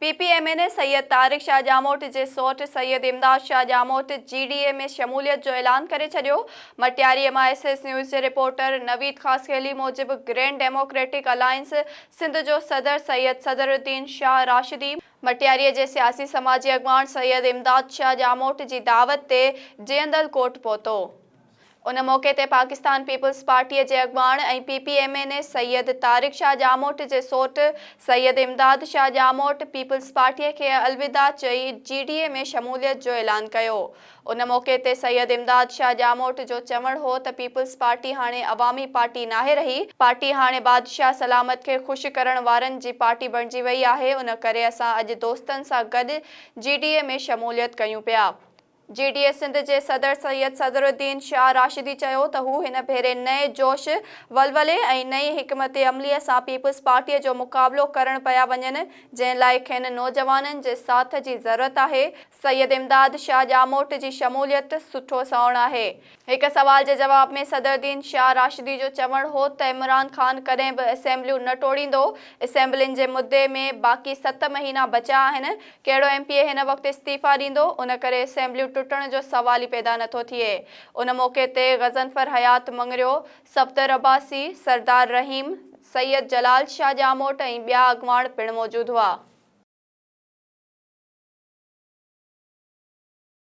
P P M N Syed Tariq Shah Jamot جي سئوٽ سيد امداد شاهه ڄاموٽ جي ڊي اي ۾ شموليت جو اعلان ڪري ڇڏيو. Matiari M I S S news جي رپورٽر نويد خاصخيلي موجب گرينڊ ڊيموڪريٽڪ الائنس سنڌ جو صدر سيد صدر الدين شاهه راشدي، مٽياري جي سياسي سماجي اڳواڻ سيد امداد شاهه ڄاموٽ جي دعوت تي جيئندل ڪوٽ پهتو. ان موقعي تي پاڪستان پيپلز پارٽيء جي اڳواڻ ۽ P P M N A Syed Tariq Shah Jamot جي سوٽ سيد امداد شاهه ڄاموٽ پيپلز پارٽيء کي الوداع چئي جي ڊي اي ۾ شموليت جو اعلان ڪيو. ان موقعي تي سيد امداد شاهه ڄاموٽ جو چوڻ هو ته پيپلز پارٽي هاڻي عوامي پارٽي ناهي رهي، پارٽي هاڻي بادشاهه سلامت کي خوش ڪرڻ وارن جي پارٽي بڻجي وئي آهي، ان ڪري اسان اڄ دوستن سان گڏ جي ڊي اي ۾ شموليت ڪيون پيا. جي ڊي اي سنڌ جي صدر سيد صدر الدين شاهه راشدي چيو ته هو هن ڀيري نئين جوش ولولي ۽ نئين حڪمت عملي سان پيپلز پارٽي جو مقابلو ڪرڻ پيا وڃن جنهن لاء کين نوجوانن جي ساٿ جي ضرورت آهي سيد امداد شاهه ڄاموٽ جي شموليت سٺو سانوڻ آهي هڪ سوال جي جواب ۾ صدر دين شاهه راشدي جو چوڻ هو ته عمران خان ڪڏهن به اسيمبليون نه ٽوڙيندو، اسيمبلين جي مدي ۾ باقي ست مهينا بچيا آهن، ڪهڙو ايم پي اي هن وقت استعيفا ڏيندو، ان ڪري اسيمبليون ٽٽڻ جو سوال ئي پيدا نه ٿو ٿئي. ان موقعي تي غضنفر حيات مڱريو، صفدر عباسي، سردار رحيم، سيد جلال شاهه ڄاموٽ ۽ ٻيا اڳواڻ پڻ موجود هئا.